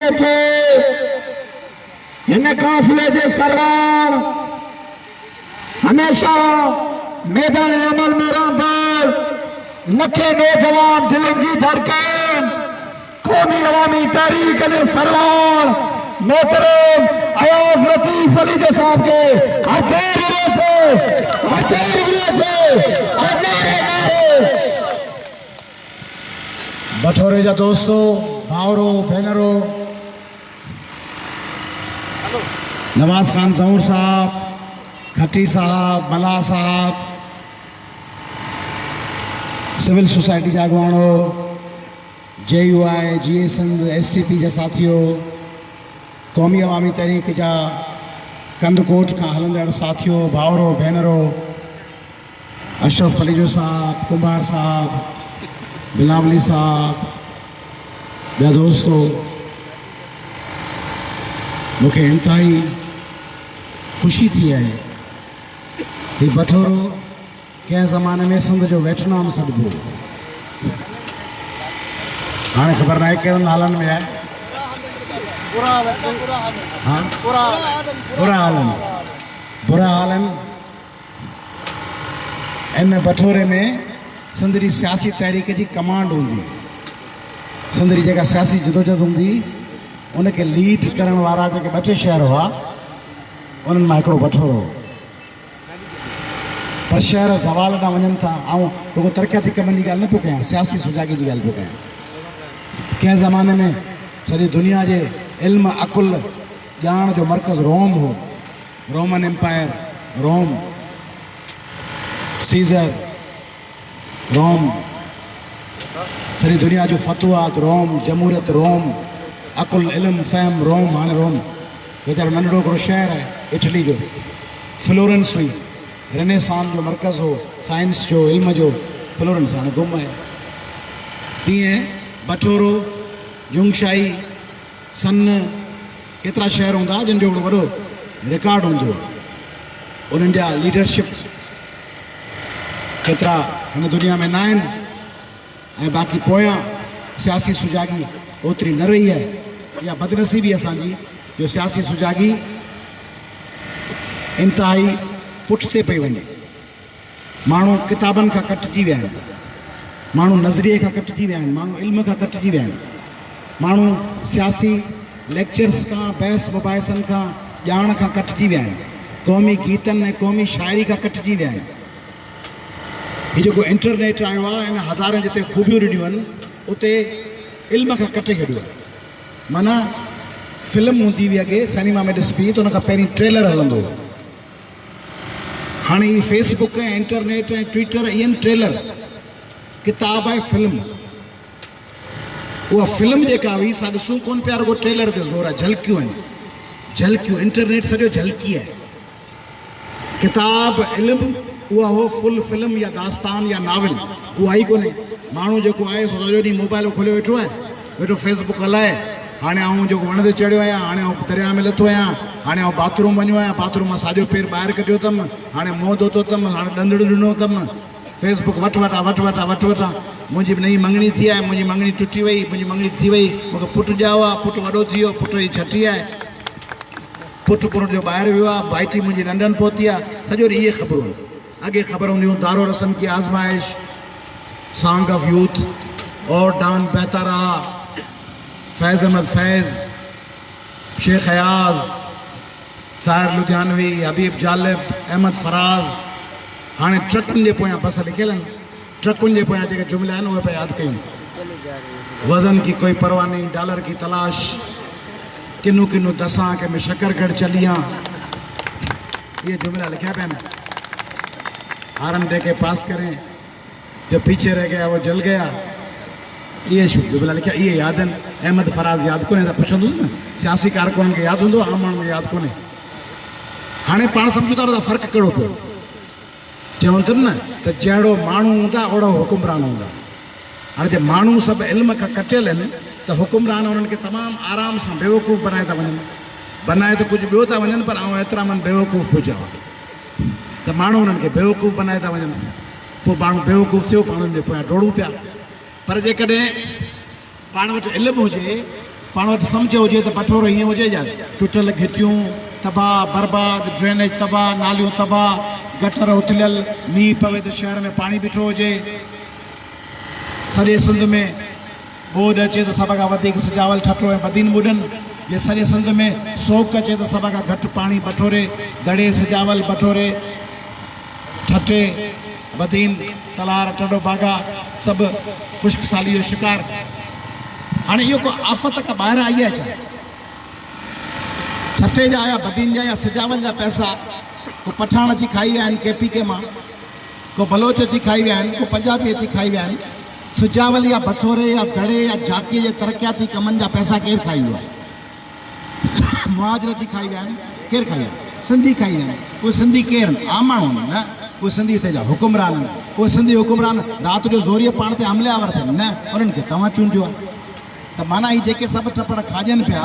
کي هن قافلي جي سرواڻ هميشه ميدان عمل ۾ رهندڙ لکين نوجوان دلين جي ڌڙڪن قومي عوامي تحريڪ جي سرواڻ محترم اياز لطيف علي جي صاحب کي هر خير هجي ٿو هر خير هجي ٿو بٺوري جا دوستو، ڀائرو، ڀينرو، نواز خان زئور صاحب، کٽي صاحب، ملاح صاحب، سول سوسائٽي جا اڳواڻو، J U I, J I Sindh, S T P جا ساٿيو، قومي عوامي تحريڪ جا ڪنڌ ڪوٽ کان هلندڙ ساٿيو، ڀائرو، ڀينرو، اشرف پليجو صاحب، ڪنڀار صاحب، بلاولي صاحب، ٻيا دوستو مون کي انتهائي خوشي ٿي آهي. هي بٺورو ڪنهن زماني ۾ سنڌ جو ويٽنام سڏبو هو. هاڻي خبر ناهي ڪهڙن حالن ۾ آهي. برا حالن برا حالن ان بٺوري ۾ سنڌ جي سياسي تحريڪ جي ڪمانڊ هوندي. سنڌ جي جيڪا سياسي جدوجھد هوندي ان کي ليڊ ڪرڻ وارا جيڪي ٻه ٽي شهر هئا انهن مان هڪڙو بٺورو هو. پر شهر زوال ڏانهن وڃن ٿا. آئون رڳو ترقياتي ڪمن جي ڳالهه نه پيو ڪيان سياسي سجاڳي جي ڳالهه پيو ڪيان. ڪنهن زماني ۾ سڄي دنيا جي علم، عقل، ڄاڻ جو مرڪز روم هو. Roman empire, Rome, Caesar, Rome, سڄي دنيا جون فتوحات، روم، جمهوريت، روم، عقل، علم، فهم، روم، هاڻي روم ويچارو ننڍڙو هڪڙو شهر آهي اٽلي جو. فلورنس هئي، رنيسان جو مرڪز هو، سائنس جو، علم جو، فلورنس هاڻي گم آهي. تيئن بٺورو، جونگشائي. سن ڪيترا شهر هوندا جن جو هڪڙو وڏو رڪارڊ هوندو آ انهن جا ليڊرشپ ڪيترا هن دنيا ۾ نه آهن ۽ باقي پويان سياسي سجاڳي اوتري نه رهي آهي اها بدنصيبي اسان جي جو سياسي سجاڳي انتهائي پٺتي پئي وڃي. ماڻهو ڪتابن کان ڪٽجي ويا آهن، ماڻهو نظريي کان ڪٽجي ويا آهن، ماڻهو علم کان ڪٽجي ويا آهن، ماڻهو سياسي ليڪچرس کان، بحث مباحثن کان، ڄاڻ کان ڪٽجي ويا آهن، قومي گيتن ۽ قومي شاعري کان ڪٽجي ويا آهن. هي جيڪو انٽرنيٽ آيو آهي ان هزارين جتي خوبيون ڏنيون آهن اتي علم کان ڪٽي ڇڏيو آهي. معنيٰ فلم هوندي هئي اڳي سئنيما ۾ ڏسبي ته ان کان پهرين ٽريلر هلندو هو. هاڻي هي فيس بڪ ۽ انٽرنيٽ ۽ ٽوئيٽر ائين ٽريلر، ڪتاب آهي فلم. اها فلم جيڪا هئي سا ڏسون ڪونه پيا رڳو ٽريلر تي زور آهي جهلڪيون آهن جهلڪيون انٽرنيٽ سڄو جهلڪي آهي. ڪتاب علم اها هو فل فلم يا داستان يا ناول اها ئي ڪونه ماڻهو جيڪو آهي سو سڄو ڏينهن موبائل کوليو ويٺو آهي. ويٺو فيس بڪ هلائي هاڻي آئون جيڪو وڻ تي چڙهيو آهيان هاڻي آئون درياء ۾ لٿو آهيان هاڻي آئون باٿ روم وڃو آهيان باٿ روم مان ساڄو پير ٻاهر ڪڍيو اٿم هاڻي منهن ڌوتو اٿم هاڻي ڏندڙ ڏنو اٿم فيس بڪ وٺ وٺان وٺ وٺان وٺ وٺان منهنجي به نئين مڱڻي ٿي آهي منهنجي مڱڻي ٽٽي وئي منهنجي مڱڻي ٿي وئي مونکي پٽ ڄائو آهي پٽ وڏو ٿي ويو پٽ جي ڇٽي آهي پٽ پرڻ جو ٻاهر ويو آهي ڀائٽي منهنجي لنڊن پهتي آهي سڄو ڏينهن اهي خبرون اڳي خبر هونديون دارو رسم ڪي آزمائش، سانگ آف يوٿ اور ڊان بهتا رها، فيض احمد فيض، شيخ اياز، ساحر لڌيانوي، حبيب جالب، احمد فراز، هاڻي ٽرڪن جي پويان بس لکيل آهن، ٽرڪن جي پويان جيڪي جملا آهن اهي پيا ياد ڪيون، وزن ڪي ڪوئي پرواهه نهين، ڊالر ڪي تلاش، ڪنو ڪنو دسان ڪي ۾ شڪر گڙ چليان. اهي جملا لکيا پيا نه هارن دي ڪي پاس ڪرين جو پيڇي رهه گيا وو جل گيا اهي شو جملا لکيا اهي ياد آهن احمد فراز ياد ڪونهي اسان پڇندوس نه سياسي ڪارڪنن کي ياد هوندو عام ماڻهن کي ياد ڪونهي هاڻي پاڻ سمجهون ٿا فرق ڪهڙو پيو چيائون تھ نھ تھ جهڙو ماڻھو ھوندا اوھڙا حڪمران ھوندا. ھاڻي جي ماڻھو سڀ علم کان ڪٽيل ھن تھ حڪمران انھن کي تمام آرام سان بيوقوف بنائي ٿا وڃن. بنائي تھ ڪجھھ ٻيو ٿا وڃن پر آئون ايترا من بيوقوف پوء چوان ٿو تھ ماڻھو انھن کي بيوقوف بنائي ٿا وڃن. پوء ماڻھو بيوقوف ٿيو پاڻھن جي پويان ڊوڙون پيا. پر جيڪڏھن پاڻ وٽ علم هجي، پاڻ وٽ سمجهه هجي ته بٺورو هيئن هجي ڄڻ ٽٽل گهٽيون تباهه برباد، ڊرينيج تباهه، ناليون تباهه، گٽر اٿليل، مينهن پوي ته شهر ۾ پاڻي بيٺو هجي. سڄي سنڌ ۾ ٻوڏ اچي ته سڀ کان وڌيڪ سجاول ٺٽو ۽ بدين ٻڏن. جي سڄي سنڌ ۾ سوڪ اچي ته سڀ کان گهٽ پاڻي بٺوري، دڙي، سجاول، بٺوري، ٺٽي، بدين، تلار، ٽنڊو باگا سڀ خشڪ ساليء جو شڪار. هاڻي اهو ڪو آفت ڪا ٻاهران آئي آهي ڇا؟ ٺٽي جا يا بدين جا يا سجاول جا پئسا ڪو پٺاڻ اچي کائي ويا آهن ڪي پي ڪي مان، ڪو بلوچ اچي کائي ويا آهن، ڪو پنجابي اچي کائي ويا آهن. سجاول يا بڇوري يا دڙي يا جاکيء جي ترقياتي ڪمن جا پئسا ڪير کائي ويو آهي؟ مهاجر اچي کائي ويا آهن، ڪير کائي ويو آهي؟ سنڌي کائي ويا آهن، اهي سنڌي ڪير آهن؟ عام ماڻهو آهن؟ نه، اهي سنڌي هتي جا حڪمران آهن، اهي سنڌي حڪمران رات جو زوريء پاڻ تي حملي آور ٿين؟ نه، انهن کي توهان چونڊيو آهي. ته معنيٰ هي جيڪي سڀ ٽپڙ کاڄن پيا،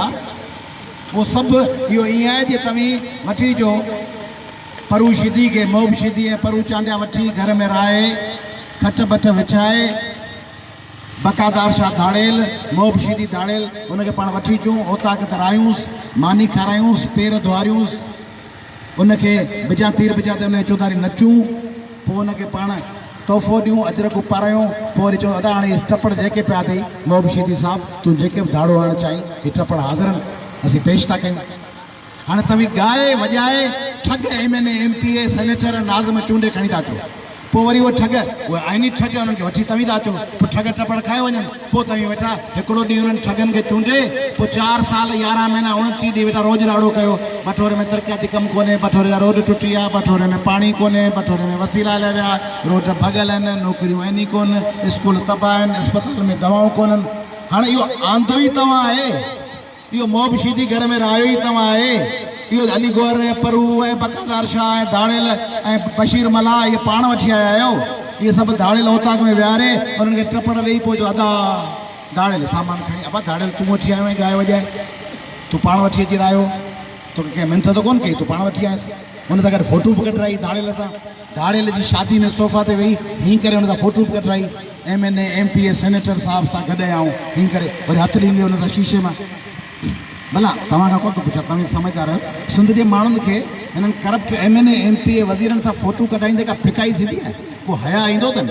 اهو سڀ اهو ائين آهي جي توهين وٺي جو پرو شدي کي محب شدي ۽ پرو چانڊيا وٺي گهر ۾ رهائي، کٽ بٺ وڇائي، بقادار شاهه ڌاڙيل، محب شيري ڌاڙيل، ان کي پاڻ وٺي اچون، اوطاق تي راهيونس، ماني کارايونس، پير ڌوئاريونس، ان کي بجان تير بجان تير ان کي چوڌاري نچون، پوء ان کي پاڻ تحفو ڏيون، اجرڪ اپارايون، پوء وري چون ادا هاڻي هي ٽپڙ جيڪي پيا اٿئي، محب شيدي صاحب تون جيڪي به ڌاڙو هڻڻ چاهين، هي ٽپڙ حاضر آهن، اسين پيش ٿا ڪيون. هاڻي توهين ڳائي وڄائي ٺڳ M N A, M P A, senator, ناظم چونڊي کڻي ٿا اچو. پوء وري اهي ٺڳ، اهي آئيني ٺڳ انهن کي وٺي توهين ٿا اچو. پوء ٺڳ ٽپڙ کائي وڃن. پوء توهين ويٺا هڪڙو ڏينهن انهن ٺڳن کي چونڊي پوء چار سال يارهن مهينا اوڻٽيهه ڏينهن ويٺا روڄ راڙو ڪيو. بٺوري ۾ ترقياتي ڪم ڪونهي، بٺوري جا روڊ ٽٽي ويا، بٺوري ۾ پاڻي ڪونهي، بٺوري ۾ وسيلا هليا ويا، روڊ ڀڳل آهن، نوڪريون آهن ئي ڪونه، اسڪول تباهه آهن، اسپتالن ۾ دوائون ڪونهن. هاڻي اهو آندو ئي توهان آهي. اهو موب شيدي گهر ۾ رهايو ئي توهان آهي. اهو علي گوهر ۽ پرهو ۽ بقادار شاهه ۽ ڌاڙيل ۽ بشير ملاح اهي پاڻ وٺي آيا آهيو. اهي سڀ ڌاڙيل اوطاق ۾ ويهاري انهن کي ٽپڙ ڏيئي پوء چئو ادا ڌاڙيل سامان کڻي ابا ڌاڙيل تون وٺي آيو آهين ڳائي وڄائي. تون پاڻ وٺي اچي رهايو. توکي ڪنهن منٿ ته ڪونه ڪئي تون پاڻ وٺي آيس. ان سان گڏ فوٽو به ڪڍرائي ڌاڙيل سان. ڌاڙيل جي شادي ۾ صوفا تي ويهي هيئن ڪري هن سان فوٽو به ڪڍرائي. M N A, M P A, senator صاحب سان گڏ هيا آئون هيئن ڪري وري هٿ ڏيندي هن سان شيشي مان. ڀلا توهان کان ڪو ٿو پڇان توهين سمجهدار آهيو سنڌ جي ماڻهن کي هنن corrupt M N A, M P A, وزيرن سان فوٽو ڪڍرائيندي ڪا ڦڪائي ٿيندي آهي؟ ڪو حياء ايندو اٿن؟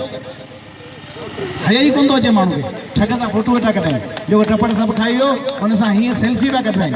حياء ئي ڪونه ٿو اچي ماڻهن کي ٺڳ سان فوٽو ويٺا ڪڍرائين. جيڪو ٽپڙ سڀ کائي ويو هن سان هيئن سيلفي پيا ڪڍرائين.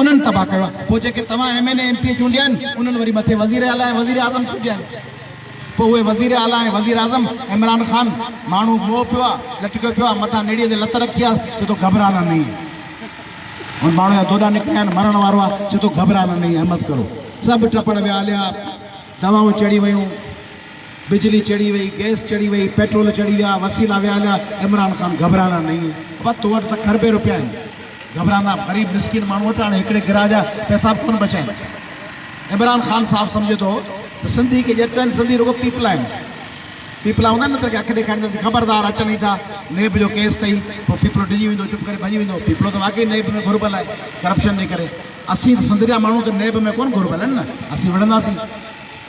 انهن تباهه ڪيو آهي پوء جيڪي توهان M N A M P A چونڊيا آهن انهن وري مٿي وزير اعليٰ ۽ وزير اعظم چونڊيا آهن پوء اهي وزير اعليٰ ۽ وزير اعظم عمران خان ماڻهو موهه پيو آهي لٽڪيو پيو آهي مٿان نيڙي تي لت رکي آهي چي ٿو گهٻرانا نهين هن ماڻهو جا دوڏا نڪريا آهن مرڻ وارو آهي چي ٿو گهٻرانا نهين همت ڪرو سڀ ٽپڙ ويا هليا دوائون چڙهي ويون. بجلي چڙهي وئي، گئس چڙهي وئي، پيٽرول چڙهي ويا، وسيلا ويا هليا، عمران خان گهبرانا نهين، ابا تو وٽ ته کربين روپيا آهن، گهبرانا، غريب مسڪين ماڻهو وٽ هاڻي هڪڙي گرهه جا پئسا به ڪونه بچايل آهن. عمران خان صاحب سمجهي ٿو ته سنڌي ڪي ڄٽ آهن، سنڌي رڳو پيپلا آهن، پيپلا هوندا نه ته اڳي اک ڏيکارينداسين، خبردار اچن ئي ٿا، نيب جو ڪيس اٿئي، پوء پيپلو ڊڄي ويندو، چپ ڪري ڀڄي ويندو، پيپلو ته واقعي نيب ۾ گهربل آهي ڪرپشن جي ڪري، اسين ته سنڌ جا ماڻهو ته نيب ۾ ڪونه گهربل آهن نه، اسين وڙهنداسين.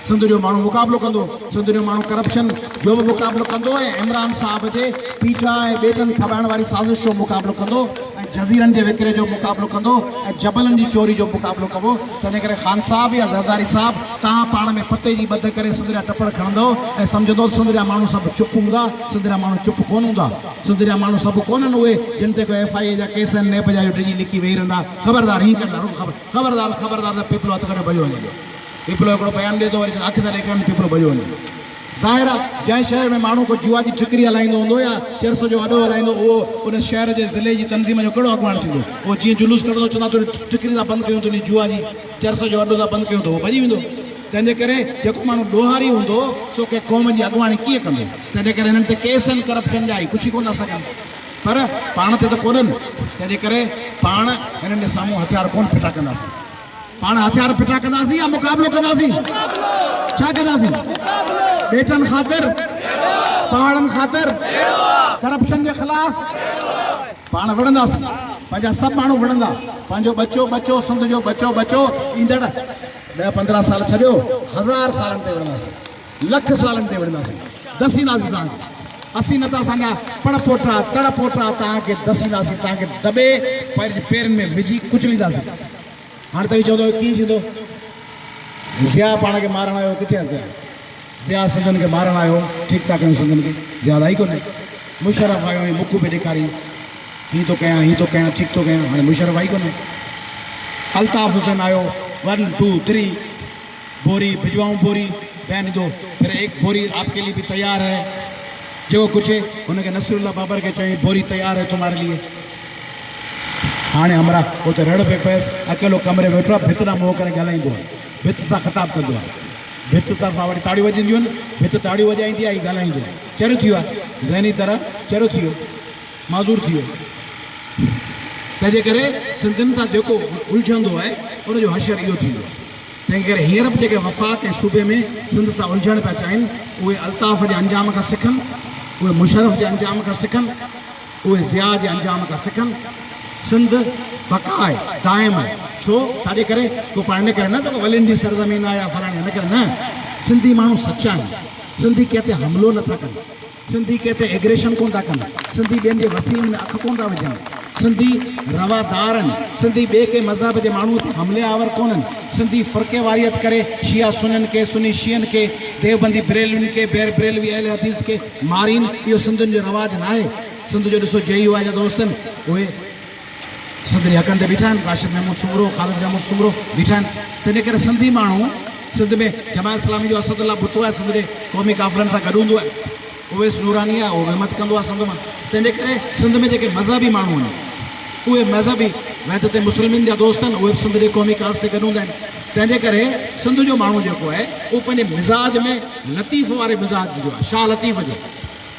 سنڌ جو ماڻهو مقابلو ڪندو، سنڌ جو ماڻهو ڪرپشن جو به مقابلو ڪندو ۽ عمران صاحب جي پيٺا ۽ ٻيٽن ڦٻائڻ واري سازش جو مقابلو ڪندو ۽ جزيرن جي وڪري جو مقابلو ڪندو ۽ جبلن جي چوري جو مقابلو ڪبو، تنهن ڪري خان صاحب يا زرداري صاحب توهان پاڻ ۾ پتي جي ٻڌ ڪري سنڌ جا ٽپڙ کڻندؤ ۽ سمجهندؤ ته سنڌ جا ماڻهو سڀ چپ هوندا، سنڌ جا ماڻهو چپ ڪونه هوندا، سنڌ جا ماڻهو سڀ ڪونهن اهي جن تي ڪو ايف آء اي جا ڪيس ۽ نيب جا جو ڊڄي لڪي ويهي رهندا، خبردار هينئن ڪرندا رڳو خبردار خبردار ته پيپلو هٿ ڪڍيو ڀڄيو وڃي ٿو. پيپلو هڪڙو پيام ڏي ٿو وري چون اک ٿا ڏيکارين پيپلو ڀڄيو وڃي ٿو. ظاهر آهي جنهن شهر ۾ ماڻهو ڪو جوا جي ٺڪري هلائيندو هوندو يا چرس جو اڏو هلائيندو اهو ان شهر جي ضلعي جي تنظيم جو ڪهڙو اڳواڻ ٿيندو اهو جيئن جلوس ڪڍندو چوندا تون انهي ٺڪري ٿا بند ڪيون تون انهي جوا جي چرس جو اڏو ٿا بند ڪيون ته اهو ڀڄي ويندو تنهن جي ڪري جيڪو ماڻهو ڏوهاري هوندو سو ڪنهن قوم جي اڳواڻي ڪيئن ڪندو تنهن جي ڪري هنن تي ڪيس آهن ڪرپشن جا هي ڪجهه ئي ڪونه ٿا سگهن پر پاڻ تي ته ڪونهن تنهن جي ڪري پاڻ هنن جي سامهون هٿيار ڪونه ڦٽا ڪنداسين. پاڻ هٿيار ڦٽا ڪنداسين يا مقابلو ڪنداسين؟ ڇا ڪنداسين؟ ٻيٽن خاطر؟ پهاڙن خاطر؟ ڪرپشن جي خلاف؟ پاڻ وڙهنداسين، پنهنجا سڀ ماڻهو وڙهندا، پنهنجو ٻچو ٻچو، سنڌ جو ٻچو ٻچو ايندڙ ڏهه پندرهن سال ڇڏيو هزار سالن تائين وڙهنداسين. لک سوالن تي وڙهنداسين، دسينداسين توهان کي، اسين نه ته اسان جا پڻ پوٽا، تڙ پوٽا توهان کي دسينداسين، توهان کي دٻي پنهنجي پيرن ۾ وجهي ڪچلينداسين. هاڻي توهين چوندؤ هي ڪيئن ٿيندو؟ ضياء پاڻ کي مارڻ آيو هو ڪٿي آهي ضياء؟ ضياء سنڌين کي مارڻ آيو هو، ٺيڪ ٿا ڪيون سنڌين کي، ضياء آئي ڪونهي. مشرف آيو هي مکون پئي ڏيکارين، هيئن ٿو ڪيان، هيئن ٿو ڪيان، ٺيڪ ٿو ڪيان، هاڻي مشرف آئي ڪونهي. الطاف حسين آيو ون ٽو ٿري. بوري ڀجواؤن بوري بهن دو پھر ايڪ بوري آپ ڪي لئي بي تيار هي جيڪو ڪجهه هن کي نصير الله بابر کي چيائين بوري تيار هي تمهاري لئي هاڻي همراهه اتي رڙ پئي پيس اڪيلو ڪمري ۾ ويٺو آهي ڀت ڏانهن منهن ڪري ڳالهائيندو آهي ڀت سان خطاب ڪندو آهي ڀت طرفان وڙي تاڙيون وڄنديون آهن ڀت تاڙيون وڄائيندي آهي هي ڳالهائيندو آهي چريو ٿي ويو آهي ذهني طرح چريو ٿي ويو معذور ٿي ويو تنهنجي ڪري سنڌين سان جيڪو الجهندو آهي ان جو حشر اهو ٿيندو آهي تنهن ڪري هينئر به جيڪي وفاق ۽ صوبي ۾ سنڌ سان الجهڻ پيا چاهين، اهي الطاف جي انجام کان سکن، اهي مشرف جي انجام کان سکن، اهي ضياء جي انجام کان سکن. سنڌ بقا آهي، دائم آهي. ڇو؟ ڇاجي ڪري؟ ڪو پاڻ ان ڪري نه ته ولين جي سرزمين آهي يا فلاڻي هن ڪري نه. سنڌي ماڻهو سچا آهن. سنڌي ڪنهن تي حملو نه ٿا ڪن. سنڌي ڪنهن تي ايگريشن ڪونه ٿا ڪن، سنڌي ٻين جي وسيلن ۾ اک ڪونه ٿا وجهن، سنڌي روادار آهن، سنڌي ٻئي ڪنهن مذهب جي ماڻهوء تي حملي آور ڪونهن، سنڌي فرقيواريت ڪري شيعا سنين کي، سني شيعن کي، ديوبندي بريلوين کي، بيربريلوي اهل حديث کي مارين، اهو سنڌين جو رواج ناهي، سنڌ جو ڏسو جي يو آء جا دوست آهن اهي. سندري حقن تي بيٺا آهن، راشد محمود سومرو، خالد محمود سومرو بيٺا آهن، تنهن ڪري سنڌي ماڻهو سنڌ ۾ جماعت اسلامي جو اسد الله ڀٽو آهي، سندري قومي ڪافرن سان گڏ هوندو آهي، اويس نوراني آهي، اهو وهمت ڪندو آهي سنڌ مان، تنهن ڪري سنڌ ۾ جيڪي مذهبي ماڻهو آهن، اهي مذهبي وحدت مسلمين جا دوست آهن، اهي به سنڌ جي قومي ڪاز تي گڏ هوندا آهن، تنهن جي ڪري سنڌ جو ماڻهو جيڪو آهي، اهو پنهنجي مزاج ۾ لطيف واري مزاج جو آهي، شاهه لطيف جو.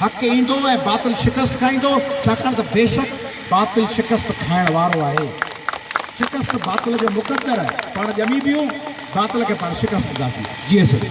حق ايندو ۽ باطل شڪست کائيندو، ڇاڪاڻ ته بيشڪ باطل شڪست کائڻ وارو آهي. شڪست باطل جو مقدر آهي. پاڻ ڄمي پيون، باطل کي پاڻ شڪست ڏينداسين. جيئي سگهي.